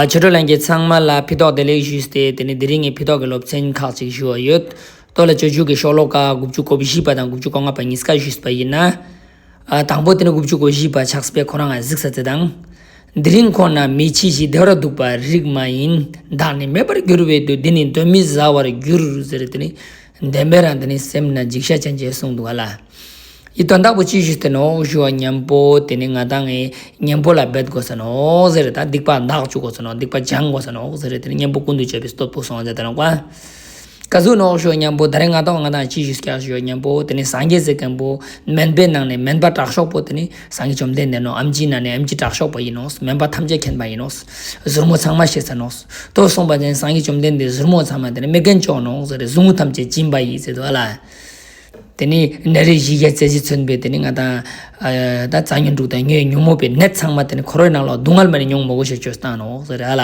ཆོས་གྲོགས་ལྷན་རྒྱས་ཚང་མ་ལ་འཕེལ་དོགས་བདེ་ལེགས་ཞུས་ཏེ་དེ་ནས་དེ་རིང་ངས་འཕེལ་དོགས་ཀྱི་སློབ་ཚན་ཁག་ཅིག་ཞུ་བ་ཡོད། སྟོད་ལ་ཆོས་བརྒྱུད་ཀྱི་ཤོག་ལོ་ཀ་དགུ་བཅུ་གོ་བཞི་པ་དང་དགུ་བཅུ་གོ་ལྔ་པ་གཉིས་ཀ་ཞུས་པ་ཡིན། ན་དང་པོ་དེ་ནི་དགུ་བཅུ་གོ་བཞི་པ་ཆགས་པས་ཁོ་རང་ང་གཟིགས་ས་དེ་དང། དེ་རིང་ཁོ་ན་མི་ཆེ་ཞིག་བདེ་བར་འདུག་པ་རིགས་མ་ཡིན་བདག་ནི་མེད་པར་གྱུར་བའི་དུས་འདི་ནི་གདོན་མི་ཟ་བར་གྱུར་ཟེར་དེ་ནི། བདེན་པའི་རང་དེ་ནི་སེམས་ན་འཇིགས་བྱ་ཅན་ཅེས་གསུངས་འདུག་ག་ལ། ཡིད་དོན་བདག་པོ་ཅི་ཞིག་དེ་ནོ་ཞུ་བ་གཉེན་པོ་དེ་ནི་ང་དང་ངའི་གཉེན་པོ་ལ་འབད་དགོས་ས་ནོ་ཟེར་རེ་ད་སྡིག་པ་འདག་བཅུག་དགོས་ས་ནོ་སྡིག་པ་སྦྱང་དགོས་ས་ནོ་ཟེར་རེ་དེ་ནི་གཉེན་པོ་ཀུན་ཏུ་སྤྱོད་པའི་སྟོབས་ཕུགས་སོང་ཟེར་ད་ནོ་ཀ། ཀ་གཟུགས་ནོ་ཞུ་བ་གཉེན་པོ་ད་རེས་ང་དང་ང་དང་ཅི་ཞིག་སྐྱ་ཞུ་བ་གཉེན་པོ་དེ་ནི་སངས་རྒྱས་ཟེར་མཁན་པོ་དམན་པའི་ནང་ནས་དམན་པ་དྲག་ཤོག་པོ་དེ་ནི་སང་གི་བཅོམ་ལྡན་འདས་ནོ་ཨམ་ཅིའི་ནཱ་ནས་ཨམ་ཅིའི་དྲག་ཤོག་པ་ཡིན་ནོ་སྨན་པ་ཐམས་ཅད་མཁྱེན་པ་ཡིན་ནོ། གཟུར་མོ་ཚང་མ་ཤེས་ཟེར་ནོ། དོ་གསུངས་པ་བརྟེན་སང་གི་བཅོམ་ལྡན་འདས་གཟུར་མོ་ཚང་མ་དེ་ནི་མི་རྒན་ལྕོག་ནོ་ཟེར་ཟུག་རྔུ་ཐམས་ཅད་སྦྱིན་པ་ཡིས་ཟེར་དུ་ཨ་ལ། དེ་ནས་ནད་རིགས་བཞི་བརྒྱ་རྩ་བཞི་མཚོན་པའི་དེ་ནི་ང་དང། དང་རྩྭ་ཉོན་དྲུག་དང་ཉོན་ཉུང་མོད་པའི་ནད་ཚང་མ་དེ་ནི་ཁོ་རོའི་ནང་ལ་སྡུག་བསྔལ་མ་ནི་མྱོང་མོ་གོ་ཞེས་བཅོས་སུ་བཏང་ནོ་ཟེར་ཨ་ལ།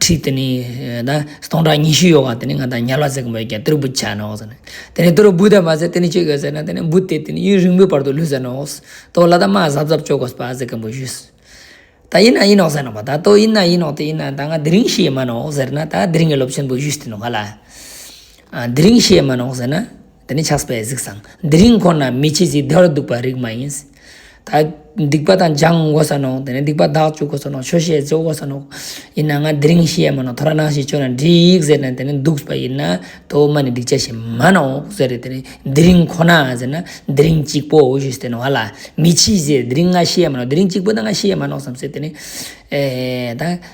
ཁྲི་དེ་ནི་སྟོང་ཕྲག་ཉི་ཤུ་ཡོད་བ་དེ་ནི་ང་དང་ཉལ་བ་ཟེར་གི་མོད་ཀྱང་དེ་རུ་འབུད་བྱས་ནོ་ཟེར་ནས་དེ་ནས་དེ་རུ་འབུད་ད་མ་ཟེར་དེ་ནི་ཅི་གི་ཟེར་ན་དེ་ནི་འབུད་དེ་དེ་ནི་ཡུན་རིང་པོའི་བར་དུ་ལུས་ཟེར་ནོ་ཏོ་ལ་ད་མ་གཟབ་གཟབ་བྱོས་གོ་ཟེར་གི་མོད་ཞུས་ད་ཡིན་ན་ཡིན་ནོ་ཟེར་ནོ་པ་ད་ཏོ་ཡིན་ན་ཡིན་ནོ་དེ་ཡིན་ན་ད་ང་དེ་རིང་ཤི་ཡི་མ་ནོ་ཟེར་ན་ད་དེ་རིང་གི་སློབ་ཆེན་པོ་ཞུས་ཏེ་ནོ་ང་ལ་དེ་རིང་ཤི་ཡི་མ་ནོ་ཟེར་ན་འདི་ནི་ཆགས་པའི་གཟིགས་སམ། འདི་རིང་ཁོ་ན་མི་ཕྱེད་ཅིག་བདེ་བར་འདུག་པ་རིགས་མ་ཡིན། སྡིག་པ་དང་སྦྱང་དགོས་ས་ནོ། དེ་ནས་སྡིག་པ་བདག་བཅུག་དགོས་ས་ནོ། ཆོས་བཤད་རྫོགས་དགོས་ས་ནོ། ཡིན་ན་ང་འདི་རིང་ཤི་ཡ་མིན་ནོ། ཐོ་ར་ནག་ཞིག་བཅོས་ན་འགྲིག་ཡིག་ཟེར་ནས་དེ་ནས་འདུག་པ་ཡིན་ན། ཐོ་མ་ནི་སྡིག་ཆ་ཞིག་མ་གནང་འོག་ཟེར་རེ་དེ་ནས་འདི་རིང་ཁོ་ན་ཟེར་ན། འདི་རིང་གཅིག་པོ་འོ་ཞུས་དེ་ནས་བ་ལ། མི་ཕྱིས་ཟེར་འདི་རིང་ང་ཤི་ཡ་མིན་ནོ། འདི་རིང་གཅིག་པོ་དང་ང་ཤི་ཡ་མ་གནང་བསམ་ཟེར་དེ་ནས།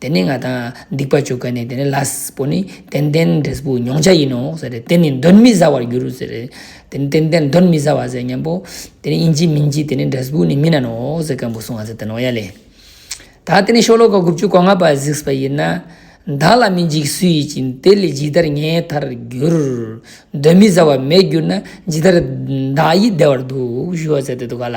དེ་ནི་ང་དང་སྡིག་པ་བྱུག་ག་ནས་དེ་ནི་ལ་པོ་ནི་ཏན་ཏན་འབྲས་བུ་མྱོང་བྱ་ཡིན་ནོ་ཟེར་རེ་དེ་ནི་གདོན་མི་ཟ་བར་འགྱུར་རོ་ཟེར་རེ་དེ་ནི་ཏན་ཏན་གདོན་མི་ཟ་བ་ཟེར་སྙམ་པོ་དེ་ནི་ཡིན་གྱི་མིན་གྱི་དེ་ནི་འབྲས་བུ་ནི་མིན་ན་ནོ་ཟེར་སྐམ་པོ་སོང་བ་ཟེར་ཏེ་ནོ་ཡ་ལེ། ད་དེ་ནི་ཤོ་ལོ་ཀ་དགུ་བཅུ་གོ་ལྔ་པ་གཟིགས་པ་ཡིན་ན། བདག་ལ་མི་འཇིགས་སུ་ཡིད་ཀྱིས་དེ་ལས་ཇི་ལྟར་ངའི་མཐར་འགྱུར། གདོན་མི་ཟ་བ་མེད་གྱུར་ན་ཇི་ལྟར་བདག་ཡིད་བདེ་བར་འདུག་ཞུ་བ་ཟེར་ཏེ་འདུག་ག་ལ།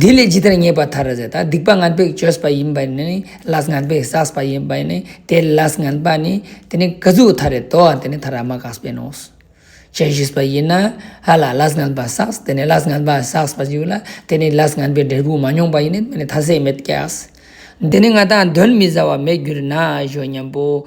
དེ་ལས་ཇི་ལྟར་ངེས་པར་ཐར་ཟེར་ན་སྡིག་པ་ངན་པས་བཅོས་པ་ཡིན་པས་ནི་ལས་ངན་པས་བསགས་པ་ཡིན་པས་ནི་དེ་ལས་ངན་པ་ནི་དེ་ནི་ག་ཟུག་ཐར་རེ་དོ་དེ་ནི་ཐར་ར་མ་ག་སྤེན་ནོ། ཇི་ཞིག་པ་ཡིན་ན་ཧ་ལ་ལས་ངན་པ་བསགས་དེ་ནི་ལས་ངན་པ་བསགས་པ་ཞིག་ལ་དེ་ནི་ལས་ངན་པའི་འབྲས་བུ་མ་མྱོང་པ་ཡིན་ནི་དེ་ནི་ཐ་ཚད་མེད་ཀྱི། འདི་ནི་ང་དང་གདོན་མི་ཟ་བ་མེད་གྱུར་ན་གཞོན་སྙམ་པོ།